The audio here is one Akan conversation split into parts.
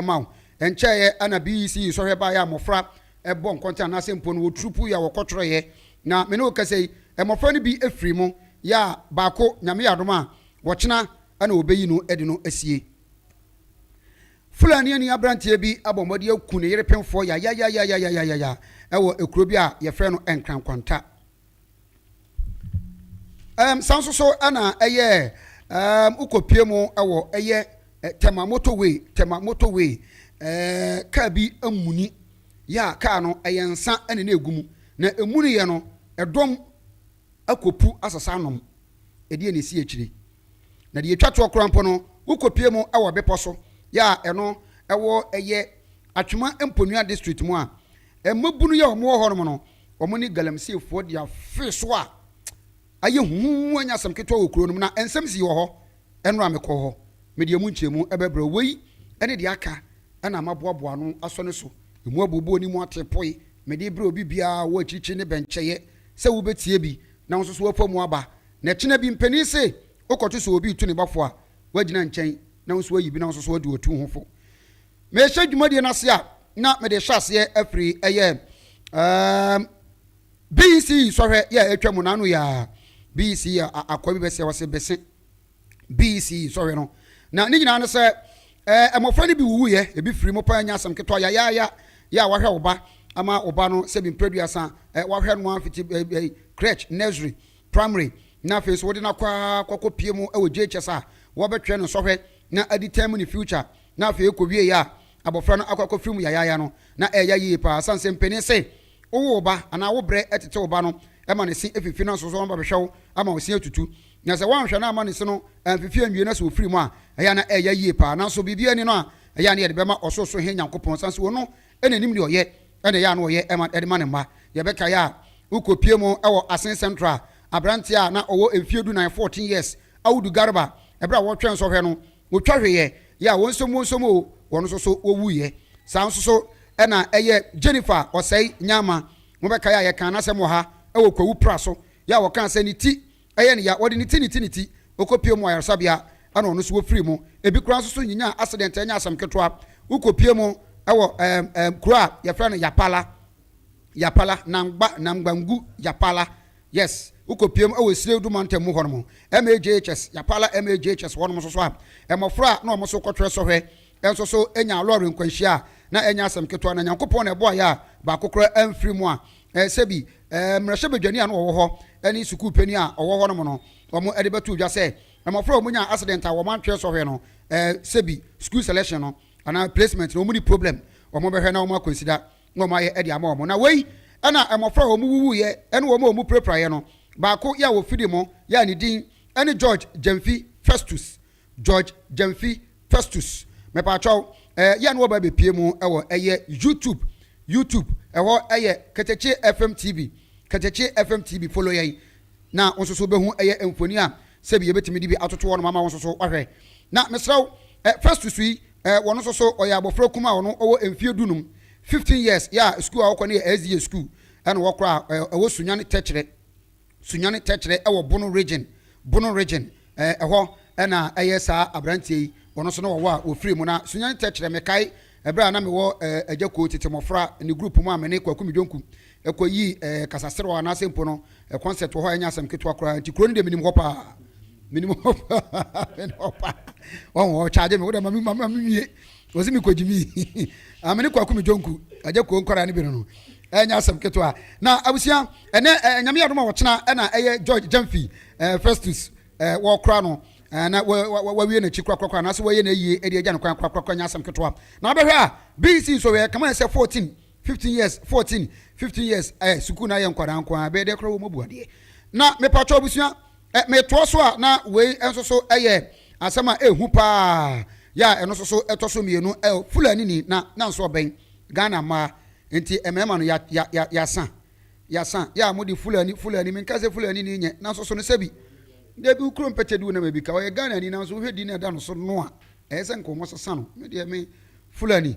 ma wo. Ɛnkyɛeɛ na BEC nsɔhwɛ baeɛ a mmɔfra bɔ nkɔntene anaasɛ mpo no wɔturu puu yɛ a wɔkɔtwerɛeɛ. Na me ne wo kasa yi, mmɔfra no bi firii mu yɛ a baako, Nyame yɛ adom a, ɔkyena na wɔbɛyi no de no asie. Fulaniani aberanteɛ bi abɔ mmɔden aku ne yere pemfoɔ yayayayayayaya wɔ kuro bi a wɔfrɛ no Nkrankɔnta. Um, san so so ɛna ɛyɛ um, wokɔpie mu ɛwɔ ɛyɛ eh, tɛma motorway tɛma motorway eh, kaa bi amuni yɛ a kaa no ɛyɛ nsa ɛne na ɛgu mu na ɛmuni yɛ no ɛdɔm akɔpu asasa anom ɛdeɛ ne si akyire na deɛ ɛtwa toɔ koraa mpo no wokɔpie mu ɛwɔ bepɔ so yɛ a ɛno ɛwɔ ɛyɛ atwema mponua district mu a ɛmabunu yɛ ɔmo wɔ hɔ nom no Wɔne Galamseefoɔ de afe so a ayɛ hu anya asɛm ketewa wɔ kuro no mu, na nsɛm sii wɔ hɔ ɛnora a mekɔɔ hɔ. Mede ɛmu nkyɛmu bɛbrɛ wo. Wei ne deɛ aka na maboaboa ano asɔ ne so. Ɛmu abooboo ne mu ateepoe. Mede rebrɛ obi biara a ɔwɔ akyirikyiri ne bɛnkyɛeɛ sɛ wobɛtie bi na wo nso so woafa mu aba. Na ɛkyena bi, mpanin se wokɔto sɛ obi retu ne ba fo a, woagyina nkyɛn na wo nso woayi bi na wo nso so woadi w'atuo ho fo. Merehyɛ dwumadie no ase a, na mede rehyɛ aseɛ afiri ɛyɛ um, BEC sɔhwɛ yɛ a atwa mu n'ano yɛ a BEC akɔa bi bɛsɛ wɔse bɛse BEC sɔhwɛ no na ne nyinaa no sɛ eh, mmɔfra no bi wuwuiɛ ebi firi mo paa nya asɛm ketewa yayaaya yɛ a wahwɛ wo ba ama wo ba no sɛ bi mprɛduasa eh, wahwɛ no afiti eh, eh, crèche nursery primary na afei nso wode no akɔ akɔkɔ pie mu wɔ JHS a wɔbɛtwerɛ no sɔhwɛ na adi tɛm ne future Na afei ekowiei a abofra no akɔ akɔfiri mu yayaaya no, na ɛreya yiye paa. Esiane sɛ mpanin se wowo wo ba anaa wo brɛ tete wo ba no ma ne se fifi na nso so ɔno bɛhwehwɛ wo ama wo se atutu. Na sɛ woanhwɛ na amma ne se no amfifi anwie na sɛ ofiri mu a, ɛyɛ a na ɛreya yiye paa. Nanso biribiara nni no a ɛyɛ a na yɛde bɛma Ɔsorosoro Hene Nyankopɔn, esiane sɛ Ono na enim nea ɔyɛ na ɛyɛ a na ɔyɛ de ma ne mma. Yɛbɛkae a wokopie mu wɔ Asin Central, aberante a na ɔwɔ mfeɛ du-nan, fourteen years, Audu Garba, bere a wɔretwɛn nsɔhwɛ no, Wɔtwa hweeɛ yɛ a wɔnsomwonsom oo, wɔn nso so wɔwuiɛ. Saa nso so na ɛyɛ Jennifer Ɔsɛe Nyama. Mobɛkae a yɛkaa n'asɛm wɔ ha wɔ Kwawu Pra so yɛ a wɔkaa sɛ ne ti yɛ no ya, wɔde ne ti ne ti ne ti, ɔkɔpie mu wɔ ayaresabea na ɔno nso wɔfiri mu. Ebi koraa nso so nyinya accident ɛnyɛ asɛm ketewa, wokɔpie mu wɔ ɛɛm ɛɛm kuro a yɛfrɛ no Yapala, Yapala, Nangba, Nangbangu Yapala. Yes, wokɔ piem wɔ Esiredu mantam mu hɔnom, MAJHS, Yapala MAJHS hɔnom nso so a, mmɔfra a na wɔn so kɔtwerɛ sɔhwɛ nso so nyaa lɔre nkwanhyia a na ɛnyɛ asɛm ketewa na Nyankopɔn na ɛboaeɛ a baako koraa amfiri mu a sɛbi mmarahyɛbadwani a na ɔwɔ hɔ ne sukuu panin a ɔwɔ hɔnom no wɔn de bɛtoo dwa sɛ mmɔfra a wɔn nyaa accident a wɔn antwerɛ sɔhwɛ no sɛbi school selection no anaa placement no wɔn ni problem wɔn bɛhwɛ na wɔn akɔnsida na wɔayɛ de ama wɔn. Na wei na mmɔfra a wɔwuwuiɛ ne wɔn a wɔpirapiraeɛ no baako yɛ a ɔfiri mo yɛ a ne din ne George Gyamfi Festus. George Gyamfi Festus. Mepaakyɛw, eh, yɛ a na wɔba bɛpie mu wɔ ɛyɛ YouTube, YouTube, ɛhɔ yɛ Ketekye FM TV, Ketekye FM TV, follow yɛn na wo nso so wobɛhu ɛyɛ mfoni a sɛbi yɛbɛtumi de bi atoto hɔ nom ama wo nso so wahwɛ. Na mesrɛ wo, eh, Festus yi, Eh wɔno nso so ɔyɛ abɔfra kumaa ɔno ɔwɔ mfie du num, fifteen years, yɛ a sukuu a ɔkɔ no yɛ SDA sukuu ɛna wɔkora a eh ɛwɔ Sunyani Tɛkyerɛ, Sunyani Tɛkyerɛ ɛwɔ Bono Region, Bono Region, eh ɛhɔ ɛna ɛyɛ saa abranteɛ yi wɔno nso na wɔwɔ a wɔfiri mu na Sunyani Tɛkyerɛ mekae ɛberɛ a na mewɔ eh Agya Koo tete mmɔfra ne group mu a mene Kwaku Midwonku Ɛkɔyii ɛɛ kasaserew anaasɛ mpo no concert wɔ hɔ a ɛnyɛ asɛm ketewa koraa. Nti kuro no deɛ menim hɔ paa. Menim hɔ paa. Menim hɔ paa. Ɔho ɔ charge me. Wodɛ ma me ma me wie. Ɔsi me kɔgyi mi. Ah, me ne kwaku me jonku. Agya kuo nkwadaa no bi no no. Ɛnyɛ asɛm ketewa. Na abusua, ɛnɛ ɛɛ nyame yɛ adom a ɔkyena ɛna ɛyɛ George Gyamfi ɛɛ Festus ɛɛ wɔkora no. Eh, na wawie n'akyi korakorakora anaasɛ wɔyɛ no ayie de agya no kwan korakorakora nyɛ asɛm ketewa na wobɛhwɛ a bec nsɔwieɛ kama ɛsɛ 14 fifteen years fourteen fifteen years ɛ eh, sukuu na ayɛ nkwadaa nko ara bɛyɛ dɛ koraa wɔn abu adeɛ na mepatwa abusua ɛ metoa so a na wei nso so ɛyɛ asɛm a ehu paa yɛ a ɛno nso so ɛtɔ so mmienu ɛ fulani ni na na nso ɔbɛn ghana mmaa nti mmarima no ya ya ya yasa yasa yɛ a mo de fulani fulani menka sɛ fulani ni nyɛ nanso so no sɛbi debi kuro mpɛtɛ di wo na ma bi ka ɔyɛ ghana ni nanso wohwɛ di na ɛda no so no a ɛyɛ sɛ nka wɔn sesa no me deɛ me fulani.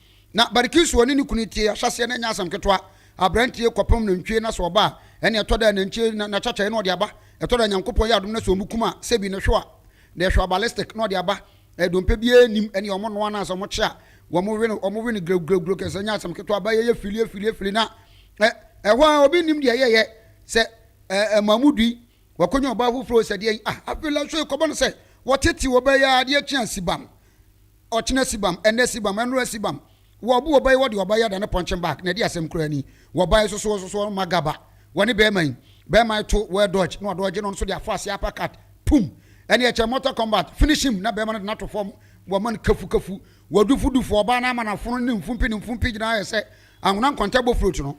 Na Barkisu ɔne ne kunu tie, ahyɛseɛ no ɛnyɛ asɛm ketewa, aberanteɛ kɔpem nantwie na sɛ ɔba a, ɛne ɛtɔ da a nantwie na n'akyakyaeɛ na ɔde aba, ɛtɔ da Nyankopɔn yɛ adom na sɛ ɔmo kum a, sɛbi no hwew a, na ɛhwew a ballistic na ɔde aba, ɛɛ dompe biara nnim, ɛne ɔmo noa no a sɛ ɔmo kye a, wɔmo we no, ɔmo we no grewgrewgrew kɛse, ɛnyɛ asɛm ketewa, ba yɛyɛ fili afili afili na ɛ, ɛhɔ ara obi nnim deɛ ɛyɛyɛ, sɛ ɛ, ɛma mo dui, wakɔnya ɔbaa foforɔ o, sɛ deɛn, ah, afei la, so ɛkɔba no sɛ, wɔtete ɔbaa yi ara, adeɛ kye a, sibam. Ɔkyena sibam, ɛnnɛ sibam, ɛnora sibam. Wɔbo ɔba yi wɔde ɔba yi adane punching bag na ɛde asɛm koraa ni. Wɔba yi soso ɔsoso ɔma gaba wɔne bɛɛma yi. Bɛɛma yi to wɔ dodge na ɔdodge no ɔno nso de afɔ aseɛ uppercut pum. Ɛne ɛkyɛ mortal combat finish him na bɛɛma no de no ato fam wɔma no kafu kafu. Wɔdufu dufu ɔbaa no ama nafono ne ne mfumpi ne mfumpi gyina ayɛ sɛ anwona nkɔntɛ bɔ fruit no.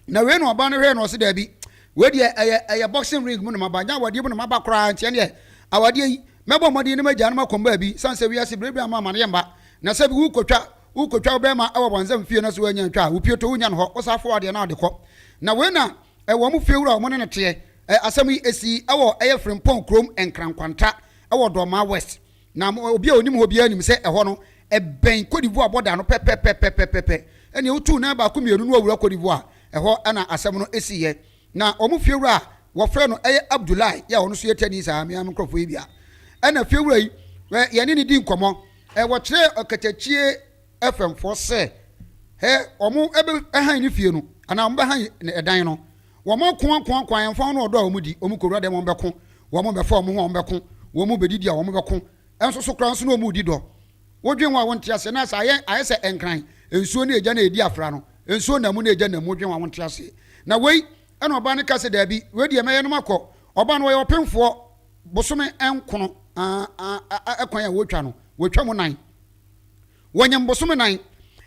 na wei na ɔba no hwɛɛ na ɔse daabi wei deɛ ɛyɛ ɛyɛ boxing ring mu na maba nyɛ awadeɛ mu na maba koraa nti ɛneɛ awadeɛ yi mɛbɔ mmɔden ne magyaa no makɔm baabi sane sɛ wiase berɛ bi ama amaneɛ mma na sɛ bi wokɔtwa wokɔtwa wo bɛrima ɛwɔ bɔnsam fie no so woanya ntwa a wo pie to wonya no hɔ wo saa fowa deɛ na ade kɔ na wei na ɛwɔ mo fie wura a wɔn ne no teɛ asɛm yi ɛsii ɛwɔ ɛyɛ Frimpong kurom Nkrankwanta ɛwɔ Dɔmaa West Na obi a onim hɔ biara nim sɛ ɛhɔ no, ɛbɛn Kodivuwa bɔda no pɛpɛpɛpɛpɛpɛ. Ɛnneɛ wotuu nan baako mmienu na wɔawura Kodivuwa. Ɛhɔ na asɛm no siiɛ. Na wɔn fiewura a wɔfrɛ no yɛ Abdulaye yi a ɔno nso yɛ Tani saa, me ara me nkurɔfoɔ yi bi a ɛna fiewura yi, yɛne no dii nkɔmmɔ. Wɔkyerɛɛ ɔkatakyie. FM foɔ sɛ hɛ ɔmo ɛbɛ ɛhan ne fie no anaa ɔmo bɛ han ne ɛdan no wɔn ako ako ako ayɛnfa ho no ɔdɔ a wɔn di wɔn kowura dɛm wɔn bɛ ko wɔn bɛ fa wɔn ho a wɔn bɛ ko wɔn bɛ didi a wɔn bɛ ko ɛnso so koraa nso na wɔn di dɔ wodwen ho a wɔn te aseɛ na sɛ ayɛ ayɛ sɛ nkran nsuo ne egya na edi afra no nsuo na mu na egya na mu wodwen ho a wɔn te aseɛ na wei ɛna ɔbaa no ka sɛ daabi wei deɛ mɛyɛ no ma kɔ ɔbaa no wɔyɛ ɔpenfoɔ bosome nkono ɛkwan a wɔtwa no wɔtwa mu nan. Wɔnyem bosome nan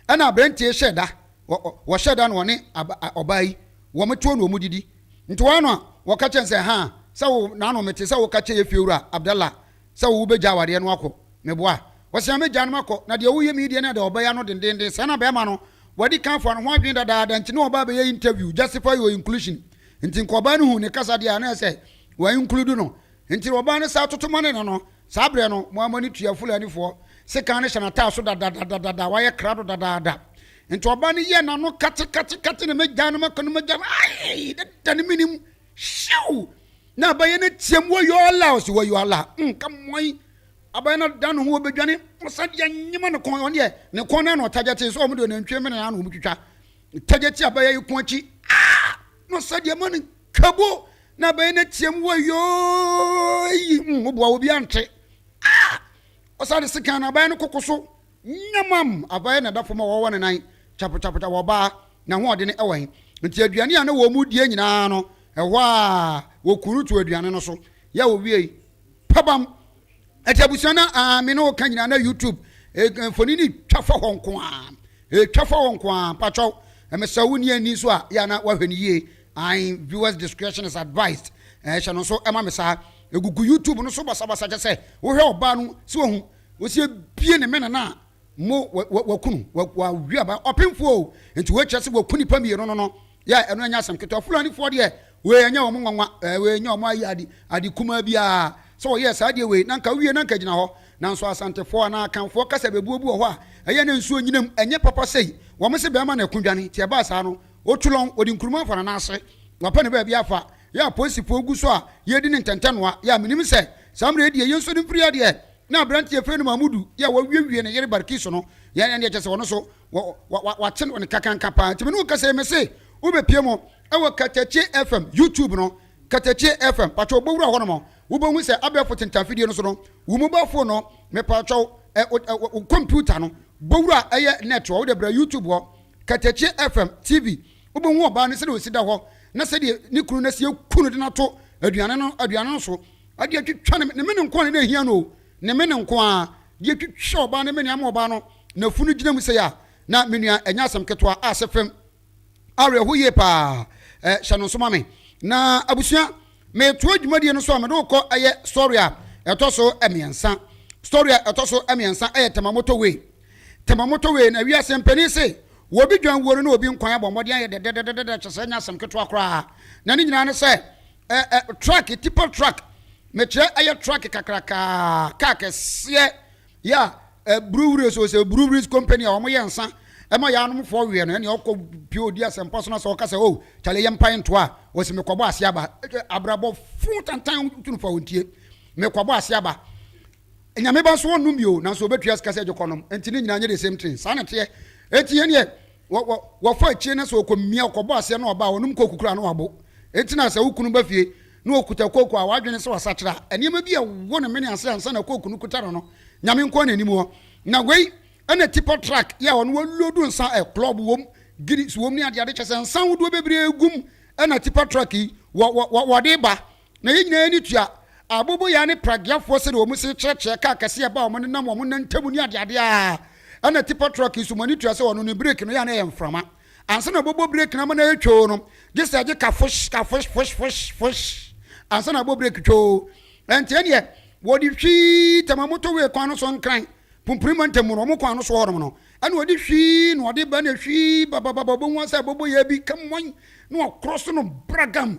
ɛna abrantie hyɛ da wɔ wɔhyɛ da no wɔne aba ɔbaa yi wɔn tuo na wɔn didi nti wɔn ano a wɔka kyɛn sɛ haa sɛ wo naano mete sɛ woka kyɛ yɛfiewura Abdallah sɛ wo bɛgya awareɛ no akɔ meboa wɔse a mɛgya no makɔ na deɛ woyɛ me yi deɛ ne ada ɔbaa yi ano dendenden saa na bɛɛma no wadi kan fa no ho adwene dadaada nti ne ɔbaa bɛyɛ interview justify your inclusion nti nka ɔbaa no hu ne kasa deɛ a na ɛsɛ wɔinclude no nti ɔbaa no saa toto ma ne nano Saa berɛ no, Moabni tua Fulanifoɔ sekan no hyɛ n'ataa so dadadadada, wayɛ krado dadaada. Enti ɔbaa no yɛɛ n'ano katekate-kate na mɛgyaa no, mɛkɔ no mɛgyaa no, aii, dada no menim, hyew! Na abayɛ no team, Wayoo Allah! Ɔse, Wayoo Allah! Umm, ka mmoayi! Abayɛ no adan ne ho, ɔbɛdwane, ɔsan de anyema ne kɔn, ɔno deɛ, ne kɔn no ara na ɔtagyɛte, nso wɔn deɛ, nantwie mene no ara na wɔtwitwa, tagyɛte abayɛ yi kɔn akyi, aah! Na ɔsan de ama no. Twabo na bɛyɛ no team wɔ yoo yi mm, woboa obi ante ah! ɔsa de sekan na abaeɛ no koko so nyamam abaeɛ na ɛda fam a wɔwɔ ne nan kyapotapota wɔ ɔbaa na ahoɔden no ɛwɔ he nti aduane a na wɔn mu die nyinaa no ɛhɔ a wɔku no to aduane no so yɛ wɔwiei pabam ɛti abusua no a me ne wɔka nyinaa na youtube eh, mfoni no twa fa hɔ nko a ɛtwa fa hɔ nko a mpakyɛw ɛmɛsɛ wo nni ani so a yɛ na wahwɛ no yie Ae viewers discretion is advised eh hyɛ no nso ma me saa Ɛgugu YouTube no so basabasa kyɛ sɛ wohwɛ ɔbaa no sɛ wahu Ɔsi abie ne mene no a mo wa waku no wa wawe aba Ɔpemfoɔ o nti wei kyerɛ sɛ waku nipa mmienu no no Yeah ɛno ɛnyɛ asɛm ketewa Fulanifoɔ deɛ wei ɛnyɛ wɔn nwanwa eh wei ɛnyɛ wɔn ayɛ ade ade kumaa biara Sɛ wɔyɛɛ saa deɛ wei na nka awie na nka ɛgyina hɔ Nanso Asantefoɔ anaa Akanfoɔ kasa bebuo bi wɔ hɔ a ɛyɛ na nsuo nyinam Ɛnyɛ papa sei Wɔn se bɛɛma na ɛko dwane nti ɛbaa saa no Otulong, ɔde nkuruma afa n'anan ase, wapɛ ne baabi afa, yɛ apolisifoɔ gu so a yɛredi ne ntɛntɛnoa, yɛ a menim sɛ saa mmerɛ yi deɛ yɛnso ne mfiri adeɛ, na aberanteɛ yɛfrɛ no Mahmudu yɛ a w'awiewie ne yere Barkisu no, yɛ ɛnneɛ kyɛsɛ ɔno nso w'akye no kakanka paa, nti me ne wo kasa yi mese wobɛpie mu wɔ Katakye FM YouTube no, Katakye FM, pakyɛw bɔ wura hɔ nom, wobɛhu sɛ abɛɛfo tentaa fidie no so no, wo mobile phone no, mepakyɛw wo computer no, bɔ wura ɛyɛ net hɔ, wode bra YouTube hɔ, Katakye FM, TV, Wobɛhu ɔbaa no sɛdeɛ ɔsi da hɔ na sɛdeɛ ne kunu no asi aku no de no ato aduane no aduane no so de atwitwa ne ne mene nko ara na na ɛhia no o, ne mene nko ara de atwitwa ɔbaa no mene ama ɔbaa no nafunu gyina mu sei a, na me nua ɛnyɛ asɛm ketewa a sɛ fam awerɛho yie paa ɛ, hyɛ no nso ma me. Na abusua, metoa dwumadie no so a mede wo kɔ ɛyɛ story a ɛtɔ so mmiɛnsa. Story a ɛtɔ so mmiɛnsa ɛyɛ Tamamoto Way. Tema moto wei na wiase mpanin se wɔ obi dwan wuo no na obi nkwan abɔ mmɔden ayɛ dɛdɛdɛdɛdɛ kyɛ sɛ ɛnyɛ asɛm ketewa koraa na ne nyinaa ne sɛ ɛ ɛ truck tipper truck mekyerɛ ɛyɛ truck kakrakaa kaa kɛseɛ yɛ a ɛ breweries o sɛ breweries company a wɔyɛ nsa ɛma yɛ anomfoɔ weɛ no ɛnea ɔkɔ pie ɔdi asɛmpa so na sɛ ɔka sɛ o kyale yɛ mpae ntoa a wɔsi mekɔbɔ ase aba abrabɔ fo tantan tunufa wɔntie mekɔbɔ ase aba Nyame ba nso ɔnnom bio nanso ɔbɛtua sika sɛ gye kɔnom nti ne nyinaa nyɛ the same thing saa na ɛteɛ nti yɛn deɛ wɔ wɔ wɔfa akyire na sɛ ɔkɔmia ɔkɔbɔ aseɛ na ɔba a ɔnom kooku koraa na wabo nti na sɛ wo kunu ba fie na ɔkuta kooku a wadwene sɛ wasakyera a nneɛma bi ɛwɔ ne mene ase ansa na kooku no kuta no no Nyame nkoa na ɛnim hɔ na wei ɛna tipɔ truck yɛ a ɔno wɔlodu nsa ɛ club wɔm Guinness wɔm ne adeade kyɛ sɛ nsa ahodoɔ bebree gum ɛna tipɔ truck yi wɔ wɔ wɔde ba Na yɛn nyinaa ani tua aboboyaa ne pragueafoɔ sɛdeɛ wɔn se kyerɛkyerɛ kaa kɛse a ɛba wɔn ne nam wɔn nantamu ne adeadeɛ a ɛna tipa truck yi so. Mo ani tua sɛ wɔno ne brake no yɛ a na ɛyɛ mframa ansa na wɔbɛbɔ brake no ama no ayɛ twoo no gye sɛ ɛgye ka fosh ka fosh fosh fosh fosh ansa na abɔ brake twoo ɛnteɛ neɛ wɔde hwii tɛma motorway kwan no so nkran pumpuni mantam mu no wɔn kwan no so hɔnom no ɛna wɔde hwii na wɔde ba na hwii babababa wɔbɛhu sɛ abɔbɔ yɛ bi kɛmmɔn na wɔkorɔ so no bragam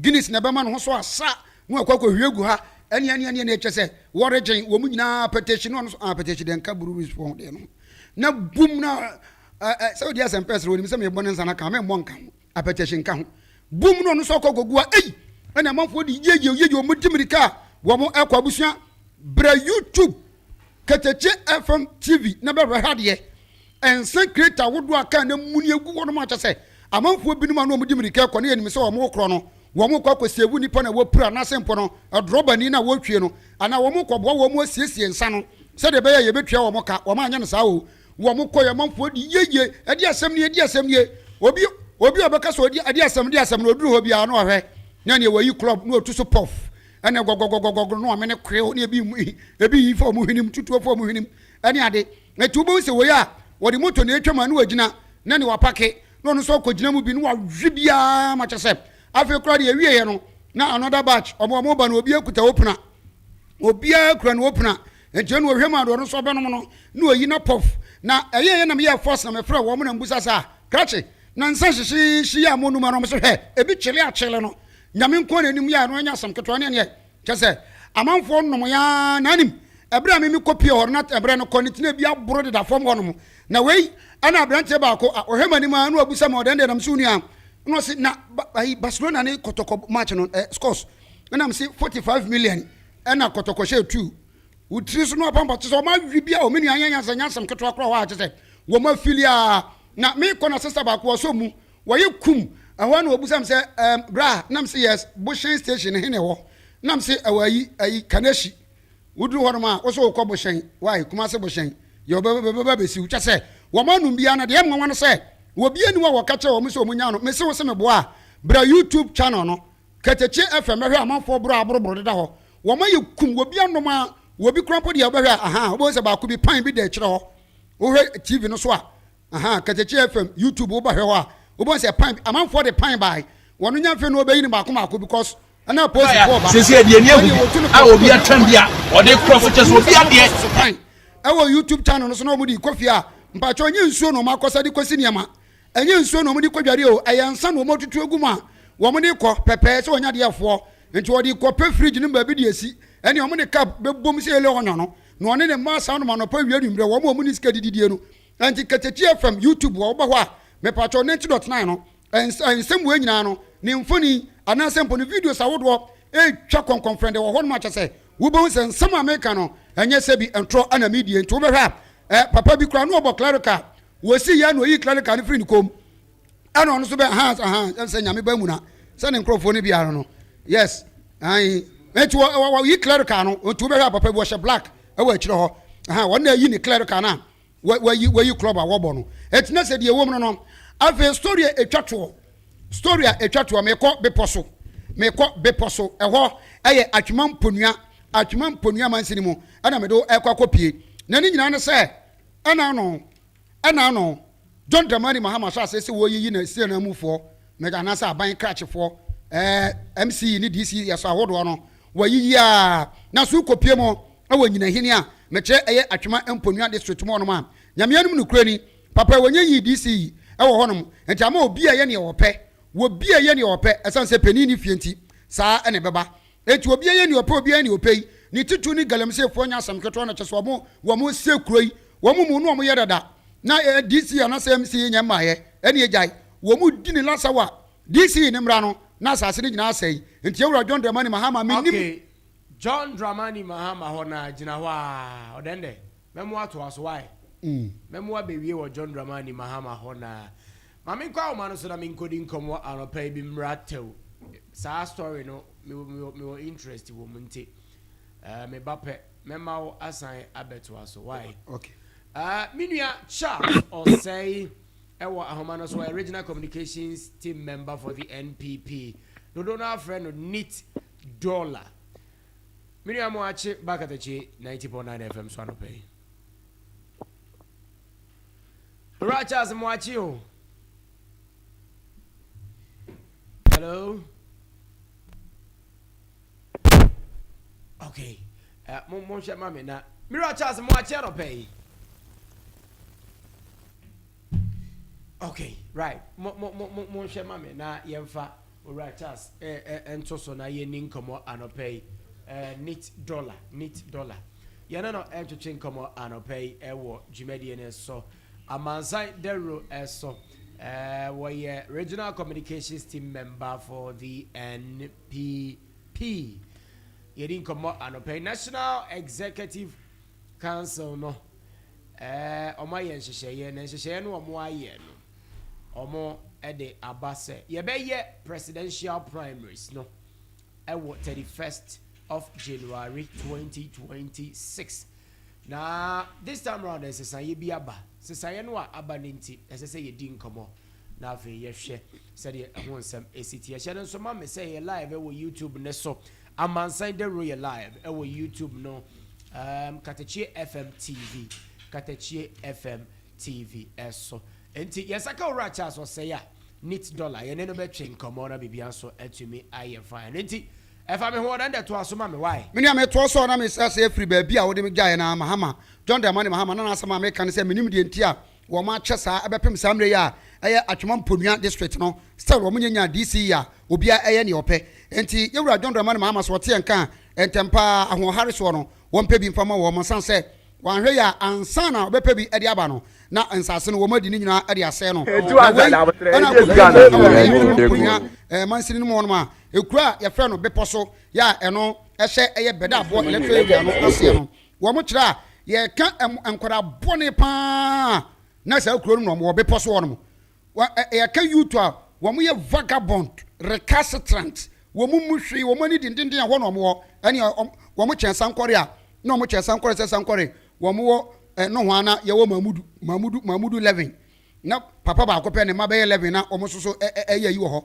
Guinness na ɛbɛma ne ho so asa na wakɔ akɔhwie agu ha, ɛne ɛne ɛne ɛne ɛkyɛ sɛ wɔregyen wɔn nyinaa apɛtɛhyi na ɔno nso apɛtɛhyi deɛ nka breweries fɔ ho deɛ no na bum na sɛ wodi asɛm pɛsere wɔnim sɛ mebɔ ne nsa no ka memmɔ nka ho apɛtɛhyi nka ho bum na ɔno nso akɔ akɔgu a ei ɛna amanfoɔ de yeye yeye wɔn di mirika a wɔn ɛkɔ abusua brɛ youtube ketekye fm tv na bɛhwɛ ha deɛ Nsa crate ahodoɔ a kaa no amuni agu hɔnom akyɛ sɛ amanfoɔ binom a na wɔde mmirika rekɔ na yɛnim sɛ wɔrekorɔ no, wɔrekɔ akɔsɛɛvu nnipa na wɔapira anaasɛ mpo no, drɔbani no a wɔretwie no anaa wɔrekɔboa wɔn asiesie nsa no sɛdeɛ ɛbɛyɛ a yɛbɛtua wɔn ka. Wɔanyɛ no saa oo. Wɔkɔeɛ, amanfoɔ dii yie yie, ɛdeɛ asɛm nie, ɛdeɛ asɛm nie. Obi obi a ɔbɛka sɛ ɔdi ɛdeɛ asɛm, ɛdeɛ asɛm no, ɔduru hɔ biara na ɔhwɛ na neɛ wayi club na ɔtu so pɔff, ɛnna gɔgɔgɔgɔgɔgɔ na wamene koreo na ebi ebi yi fa wɔn hwenem, tutuo fa wɔn hwenem ne ade. Na enti wobɛhu sɛ wei a wɔde moto na ɛretwam a na wagyina na nea wapake na ɔno nso akɔgyina mu bi na wawe biara ma kyɛ sɛ afei koraa deɛ ɛwieɛ no na another batch ɔmo ɔmo ba no obiara kuta opena obiara kura ne opena nti ɛna ɔhwɛ mu ade ɔno nso ɔbɛnom no na ɔyi na pɔf na ɛyɛ ɛyɛ na meyɛ force na mefrɛ wɔn na mbusa sɛ a krakye na nsa hyehyeehye yɛ a monuma no ɔmo sɛ hwɛ ebi kyele akyele no nyame nko na anim yɛ a no anya asɛm ketewa ne ɛneɛ Kyɛ sɛ, amanfoɔ nnom yaa na anim ɛberɛ a me me kɔ pie hɔ no na ɛberɛ no kɔ ne tena bi aboro deda fam hɔ nom. Na wei ɛna aberanteɛ baako a ɔhwɛ m'anim aa na wabisa me ɔdɛn deɛ nam se wo nua na ɔse na ayi Barcelona ne kɔtɔkɔ match no eh, scores ɛnam se 45 million ɛna kɔtɔkɔ hyɛ tu wo tiri so na wapampa kyɛ sɛ ɔma awi bia o me nua anyɛ nyansa nyansam ketewa koraa hɔ a kyɛ sɛ wɔma afili aa na me kɔ na sister baako ɔsɔ mu Wɔye kum, ɛhɔ na ɔbisa me sɛ ɛɛm bra ha? Na me se yes, bohyɛn station no he na ɛhɔ? Na me se ɛwɔ ayi, ayi, Kanehyi. Woduru hɔnom a, wo so wokɔ bohyɛn, why, Kumase bohyɛn, deɛ wɔbɛba bɛsiw, kyɛ sɛ, wɔn anom biara no, deɛ ɛyɛ me nwanwa ne sɛ, wɔbi ani wɔ wɔka kyerɛ wɔn sɛ wɔn nyaa no, me se wo se me boa a, bra YouTube channel no, Ketekye FM, bɛhwɛ amanfoɔ borɔ a aboroboro deda hɔ, wɔn ayɛ kum, wɔbi anom a, wɔbi koraa mpo deɛ wobɛhwɛ a, ahaa, wobɛhu sɛ baako bi, pan bi da akyire hɔ, wohwɛ TV no so a, Ahaa Katakyi FM YouTube wo ba hwɛ hɔ a wobɛhu sɛ pan amanfoɔ de pan bae wɔn nya mfe no wɔbɛyi no baako baako because ɛna aposi foɔ ba sisi ɛdeɛ ni agu a obi atwɛn bi a ɔde kura fo kyɛ so obi adeɛ pan ɛwɔ YouTube channel no so na wɔn de kɔ fie a mpatsɔ nye nsuo na wɔn akɔsa de kɔsi nneɛma ɛnyɛ nsuo na wɔn de kɔ dware o ɛyɛ nsa na wɔn atutu egu mu a wɔn de kɔ pɛpɛɛ sɛ wɔn nya deɛ foɔ nti wɔde kɔ pɛ fridge no baabi de esi ɛne wɔn de cup bɛbom sɛ yɛlɛ ɔnyɔ no na ɔne ne mma asan nom anɔpa wie anwummerɛ wɔn a wɔn ne sika dididie no Ɛnti Katakyi FM YouTube hɔ wobɛhɔ a mepatwɔ 90.9 no nsɛm wei nyinaa no ne mfoni anaasɛ mpo ne videos ahodoɔ ɛtwa kɔnkɔnfrɛndɛ wɔ hɔnom akyɛsɛ wobɛhu sɛ nsɛm a meka no ɛnyɛ sɛ bi ntorɔ ɛna medie nti wobɛhwɛ a ɛ papa bi koraa no ɔbɔ clerical wɔsi yɛ na ɔyi clerical no firi ne kom ɛna ɔno nso bɛ ahan ahan ɛm sɛ nyame ba mu na sɛ ne nkurɔfoɔ no biara no yes ayi ɛnti wɔyi clerical no nti wobɛhwɛ a papa bi wɔhyɛ black ɛwɔ akyire hɔ wɔn na ɛyi ne clerical no a wa wayi wayi club a wɔbɔ no ɛti na sɛ deɛ ɛwɔ mu no no afei story a ɛtwa toɔ story a ɛtwa toɔ mekɔ bepɔ so mekɔ bepɔ so ɛhɔ ɛyɛ atwema mponua atwema mponua mansini mu ɛna mede ɛkɔ akɔpie na ne nyinaa ne sɛ ɛna ano ɛna ano john dramani mahama so asɛ sɛ wɔyiyi na sie na mufoɔ mɛgya anaasɛ aban krakyefoɔ ɛɛ mce ne dc yɛ so ahodoɔ no Wɔayiyi a, na so kɔpue mu wɔ Nyinahene a, mekyerɛ ɛyɛ Atwema Mponua District mu hɔnom a. Nyame anom nokorɛni, papa wɔnnya yii DC yi wɔ hɔnom, nti ama obi a yɛ neɛ ɔpɛ, wɔbi a yɛ neɛ ɔpɛ, ɛsane sɛ panin nni fie nti, saa na ɛbɛba. Nti obi a yɛ neɛ ɔpɛ, obi a yɛ neɛ ɔpɛ yi, ne titiriw ne Galamseyfoɔ nyɛ asɛm ketewa no, kyerɛ sɛ wɔn, wɔn sie kuro yi, wɔn mu no wɔn yɛ dada, na DC anaa sɛ MC nyɛ mmaeɛ, ɛne agyae, wɔn di ne lasawa DC ne mmra no na asase no nyinaa sɛe nti yɛ wura John Dramani Mahama me nim. Okay John Dramani Mahama hɔ na gyina hɔ aa ɔdɛn dɛ mɛmo atoa so why mɛmo abɛwie wɔ John Dramani Mahama hɔ na ma me nkɔ awoma no so na me nkɔdi nkɔmɔ anɔpa yi bi mmra tɛw saa story no me wɔ me wɔ interest wɔ mu nti uh, me ba pɛ mɛma wo asan abɛtoa so why okay uh, me nua Charles ɔsɛe Wɔ ahoma no so ɔyɛ Regional Communications Team Member for the NPP. Dodow no ara frɛ no Neat Dollar. Me nua Moakye ba Katakye 90.9 FM so anɔpa yi. Owura Charles Moakye o. Hello. okay uh, mo mo hwɛ ma me na mira charles mo akyɛ no pɛɛ okay right mo mo mo mo mo hwɛ ma me na yɛnfa owura charles ɛɛ eh, eh, nto so na yɛni nkɔmɔ anɔpɛ yi ɛɛ eh, neat dollar neat dollar yɛne no ɛntwetwe nkɔmɔ anɔpɛ yi ɛwɔ dwumadie no so amansan dawuro ɛso ɛɛ wɔyɛ regional communications team member for the N. pii pii. Yɛdi nkɔmmɔ anɔpa yi. National Executive Council no, eh, wɔn ayɛ nhyehyɛeɛ na nhyehyɛeɛ no wɔn ayɛ no, wɔn de aba sɛ yɛbɛyɛ presidential primaries no ɛwɔ 31st of January 2026. Na this time round nsesaeɛ bi aba. Nsesaeɛ no a aba no nti, ɛsɛ sɛ yɛdi nkɔmmɔ na afei yɛhwɛ sɛdeɛ ɛho nsɛm ɛsi teɛ. Hyɛ no nso ma me sɛ yɛ live ɛwɔ YouTube ne so. Amansan Dawuro yɛ live ɛwɔ YouTube no. Um, Katakye FM TV. Katakye FM TV ɛso. Nti yɛsaka owura Charles ɔsɛe a, neat dollar. Yɛne no bɛtwe nkɔmmɔ na biribiara nso atumi ayɛ fine. Nti. Ɛfa me ho na ndɛ toa so ma me wai. Me nua me toa so a na me srɛ sɛ firi baabi a wode me gyaeɛ no ara Mahama, John Dramani Mahama na n'asɛm a meka ne sɛ menim deɛ nti a wɔn akyɛ saa ɛbɛpem saa mmerɛ yi a ɛyɛ Atwema Mponua District no still wɔn nyɛ nyaa DC yi a obiara ɛyɛ neɛ ɔpɛ nti yɛwura John Dramani Mahama sɛ ɔte yɛn nka a ntɛm paa ahoɔhare soɔ no wɔn pɛ bi mfa ma wɔn ɛsan sɛ Wanhwɛ yie a, ansa na ɔbɛpɛ bi de aba no, na nsase no wɔn adi no nyinaa de asɛe no. Na wei na akɔwie no wɔ yɛn Nuanom Bunia mansini no mu hɔnom a, kuro a wɔfrɛ no Bepɔ so yɛ a ɛno hyɛ ɛyɛ Bɛdaaboɔ Electoral Area no aseɛ no, wɔkyerɛ a, yɛka nkwadaa bɔne pa ara na saa kuro no na wɔwɔ bepɔ so hɔnom. Wa ɛ ɛ yɛka youth a, wɔn yɛ vagabond, recalcitrant, wɔn mmu hwee, wɔn ani dendenden a hɔ na wɔn wɔ, ɛneɛ wɔn wɔn kyɛn sankɔre a, na wɔn kyɛn sankɔre sɛ sankɔre, wɔn wɔ ɛ nohoa na yɛwɔ mamudu, mamudu, mamudu 11, na papa baako pɛ ne mma bɛyɛ 11 na wɔn nso so ɛ ɛ ɛyɛ ayi wɔ hɔ,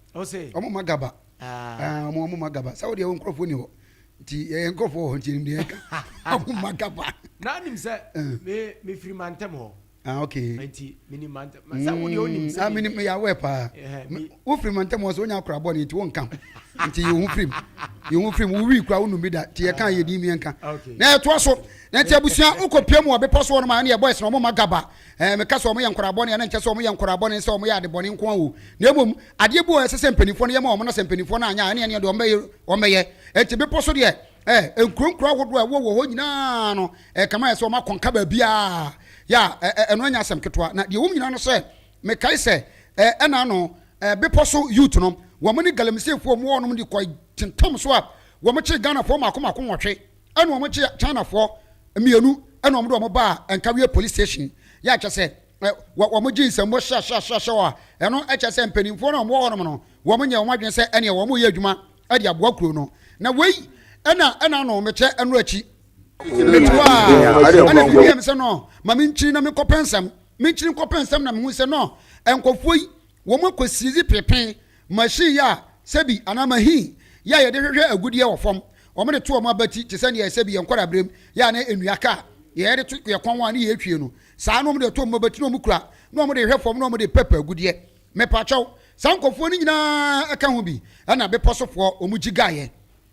ɔse ɔmo ma gaba ah. ɔmo ɔmo ma gaba sɛ wodeɛ wo nkurɔfoɔ ni hɔ nti yɛyɛ nkurɔfoɔ wɔ hɔ nti ɛnim deɛ ɛka ɔmo ma gaba na nim sɛ eh. mefiri mantam hɔ ah ok nti mini mantam sɛ wodeɛ wonim sɛ mini meyɛ awɛ paa wofiri mantam hɔ sɛ wonya akora bɔne nti wonka nti yɛhu firim yɛhu firim wowi kora wonum bi da nti yɛka yɛdin miɛnka na ɛtoa so na nti abusua wokɔpia mu wɔ bepɔ so hɔ no ma ɛne yɛbɔ ɛsena ɔmo ma gaba Ɛɛ, meka sɛ wɔyɛ nkwadaa bɔne a, na ɛnkyerɛ sɛ wɔyɛ nkwadaa bɔne sɛ wɔyɛ ade bɔne nko ara o, na mmom adeɛ bi wɔ hɔ a ɛsɛ sɛ mpanimfoɔ no yɛ ma wɔn, na sɛ mpanimfoɔ no anyɛ a, ɛnneɛ ɛnneɛ deɛ wɔbɛyɛ, wɔbɛyɛ. Enti bepɔ so deɛ, ɛɛ, nkuro nkuro ahodoɔ a ɛwɔ wɔ hɔ nyinaa no, ɛɛ, kama ayɛ sɛ wɔakɔnka baabiara, ya, ɛɛ, ɛno nyɛ asɛm ketewa. Na deɛ ɛwɔ mu nyinaa no sɛ, mekae sɛ, ɛɛ, ɛna ano, ɛɛ, bepɔ so youth no, wɔn ne Galamiseefoɔ a wɔwɔ hɔnom de kɔe tentam so a, wɔkyere Ghanafoɔ mmaako mmaako nwɔtwe. ɛna wɔn kye Chinafoɔ mmienu ɛna wɔn de wɔn baa Nkawie police station yɛ akyɛ sɛ wɔn gye nsɛmmo hyɛhyɛhyɛhyɛ a ɛno kyɛ sɛ mpanimfoɔ no a wɔwɔ hɔnom no wɔn nyɛ wɔn adwene sɛ ɛneɛ wɔn yɛ adwuma ɛde aboa kuro no na wei ɛna ɛna no mekyɛ ɛno akyi metua ɛna bi bia me sɛ no ma menkyiri na menkɔpɛ nsɛm menkyiri nkɔpɛ nsɛm na mehu sɛ no nkɔfoɔ yi wɔn akɔsiedzi pepen Machine yi a sɛbi anaa mahine yi a yɛde hwehwɛ agudeɛ wɔ fam, wɔde to wɔn abati te sɛ nea sɛbi yɛn nkwadaa-berɛm yɛ a na nnua ka a yɛde to yɛn kɔn ho a ne yɛtwie no, saa na wɔde to wɔn abati na wɔkura na wɔde hwehwɛ fam na wɔde pɛp agudeɛ. Mepakyɛw, saa nkorɔfoɔ no nyinaa ka ho bi na bepɔ so foɔ wɔn gye gaeɛ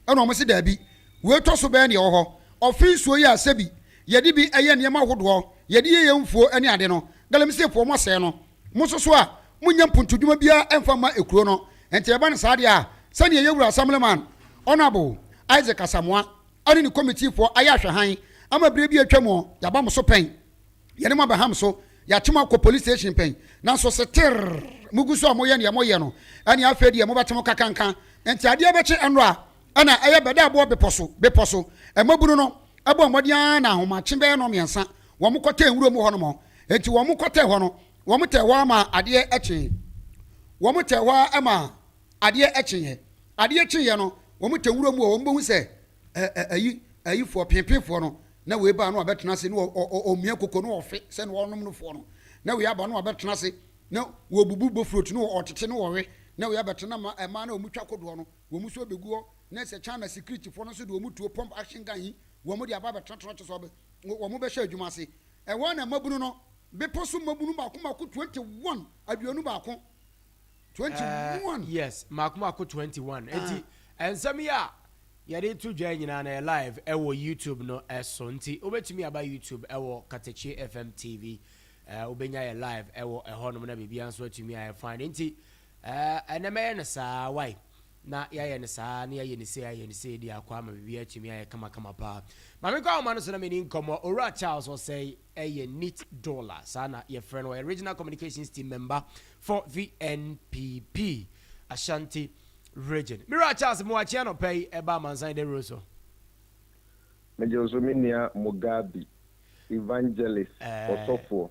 na wɔn se daabi, wei tɔ so bɛyɛ nea ɛwɔ hɔ. Ɔfe nsuo yi a sɛbi yɛde bi yɛ nneɛma ahodoɔ, yɛde yɛ yɛn mfuo ne ade no, galamseyfoɔ wɔasɛe no. Mo nso so a, monnya mpontodwuma biara mfa mma ekuro no. Enti ɛba no saa deɛ a, sɛdeɛ yɛn Wura Assemblyman, Honourable, Isaac Asamoah ɛne ne Committeefoɔ ayɛ ahwɛhan ama berɛ bi a atwa mu, yɛaba mo so pɛn, yɛne mo abɛha mo so, yɛakye mo akɔ Police Station pɛn, nanso seterr mogu so a moyɛ deɛ moyɛ no, ɛneɛ afei deɛ mobɛte mo kakanka. Enti adeɛ bɛkye nnora a, ɛna ɛyɛ bɛdaaboɔ bepɔ so, bepɔ so. Mmabunu no bɔɔ mmɔden ara na ahomakye bɛyɛ nnɔnmiɛnsa wɔkɔtɛɛ nwuram hɔ nom. Enti wɔkɔtɛɛ hɔ no, wɔtɛɛ hɔ ara maa adeɛ kyee. Wɔtɛɛ hɔ ara maa adeɛ kyeeɛ. Adeɛ kyeeɛ no, wɔtɛɛ nwura mu hɔ, wɔbɛhu sɛ ayi, ayifoɔ, peepeefoɔ no, na wei baa na wabɛtena ase, na ɔmia koko, na ɔfe sɛ na ɔnom no foɔ no, na wei aba na wabɛtena ase, na wɔbubu bofrot, na ɔtete, na ɔwe, na wei abɛtena, na mmaa no a wɔtwa kodoɔ no, wɔn nso bɛgu hɔ, na sɛ China sikiritifoɔ no nso de wɔn tuo pump action gun yi, wɔde aba abɛtenatena, kyerɛ sɛ wɔbɛ. wɔbɛhyɛ adwuma ase. Ɛhɔ ara na mmabunu no, bepɔ so mmabunu mmaako mmaako twenty one, aduonu baako, twenty one. Eh, yes, mmaako mmaako twenty one. Enti, nsɛm yi a yɛde to dwa nyinaa na yɛ live ɛwɔ YouTube no so. Nti, wobɛtumi aba YouTube ɛwɔ Katakye FM TV. Eh, wobɛnya yɛ live ɛwɔ ɛhɔnom na biribiara nso atumi ayɛ fine. Nti, Eh, ɛnɛ mɛyɛ no saa, wai, na yɛayɛ no saa, na yɛayɛ no sei, ayɛ no sei de akɔ ama biribiara atumi ayɛ kamakama paa. Ma menkɔ ahoma no so na menni nkɔmmɔ. Owura Charles Osei yɛ Nit Dola, saa na yɛfrɛ no, ɔyɛ Regional Communications Team Member for VNPP Ashanti Region. Me wura Charles, mewɔ akyea anɔpa yi ɛba amansan de woro so. Megye wo so me nua Mugabi, Evangelist, ɔsɔfoɔ.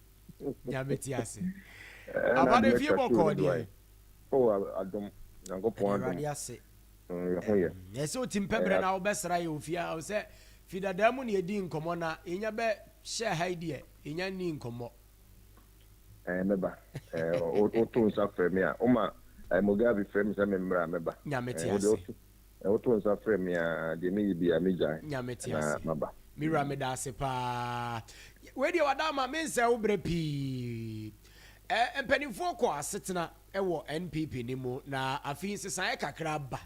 Nyame te ase. Aba no fie bɔkɔɔ deɛ. Oh adom. Nyankopɔn adom. Awurade ase. Yɛ ho yɛ. Ɛsɛ otim pɛ berɛ na wobɛ sra yɛ ofie a sɛ fi dadaa mu na yɛdi nkɔmɔ na yɛnya bɛ hyɛ ha yi deɛ yɛnya nni nkɔmɔ. Ɛɛ mɛba. Ɛɛ woto nsa frɛ me a. Woma Mugabe frɛ me sɛ me mmra mɛba. Nyame te ase. Na woto nsa frɛ me a, deɛ meyɛ biara megyae Nya mete na ase. maba. Me wura meda ase paa. Wei deɛ wada ama mensɛe wo berɛ pii. Ɛ mpanimfoɔ kɔ asetena wɔ NPP no mu na afei nsesaeɛ kakra aba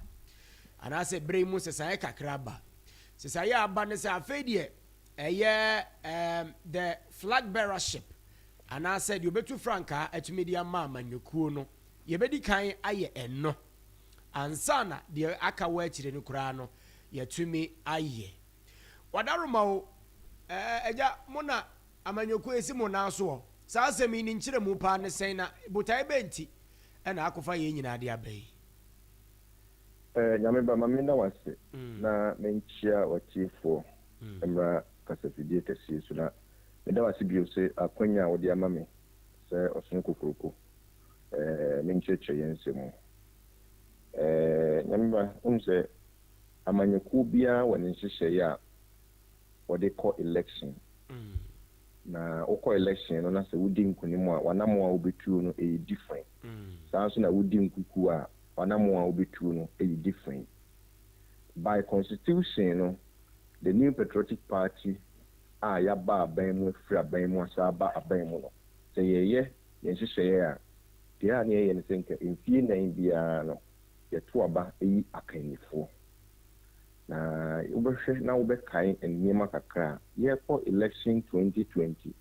anaasɛ berɛ yi mu nsesaeɛ kakra aba. Nsesaeɛ a aba ne sɛ afei deɛ ɛyɛ ɛɛm the flag bearership anaasɛ deɛ ɔbɛtu frankaa atumi de ama amanyɔkuo no yɛbɛdi kan ayɛ ɛno. ansa na deɛ aka wɔ akyire no koraa no yɛatumi ayɛ. Wadaroma o, ɛɛ, agya, mo na amanyɔkuo asi mo nan soɔ. Saa asɛm yi ne nkyerɛmu paa ne sɛn na botaeɛ bɛn nti na akɔfa yei nyinaa de aba yi? Ɛɛ, Nyame ba, ma me nna wo ase na me nkyea w'atiefoɔ mmra kasafidie kɛseɛ su na me da wo ase bio se akwanya a wode ama me sɛ ɔsono kokroko Ɛɛ, me nkyerɛkyerɛ yɛ nsɛm mu. Ɛɛ, Nyame mma, wonim sɛ amanyɔkuo biara wɔ ne nhyehyɛeɛ a wɔde kɔ election. Na wokɔ election no na sɛ wodi nkunim a, w'anammɔn a wobɛtuo no ɛyɛ different. Saa ara nso na wodi nkukuo a, w'anammɔn a wobɛtuo no ɛyɛ different. By constitution no, the New Patriotic Party a yɛaba aban mu, afiri aban mu asan aba aban mu no, sɛ yɛyɛ Yɛ nhyehyɛeɛ a, deɛ a na yɛyɛ ne sɛ nka mfie nnan biara no yɛto aba yi akannifoɔ. Na wobɛhwɛ na wobɛkae nneɛma kakra a, yɛrekɔ election twenty twenty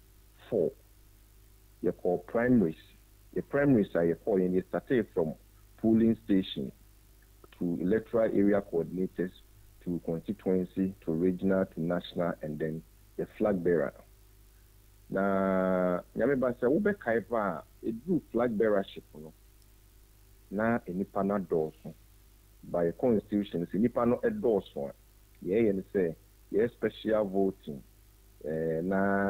four, yɛkɔɔ primaries. Yɛ primaries a yɛkɔeɛ no, yɛ startee from polling station to electoral area coordinators to constituency to regional to national and then yɛ flag bearer. Na Nyame ba sɛ wobɛkae paa a, ɛduruu flag bearership no, na nnipa no adɔɔso. By yɛ constitution sɛ nnipa no dɔɔso a, deɛ ɛyɛ ne sɛ yɛyɛ special voting na.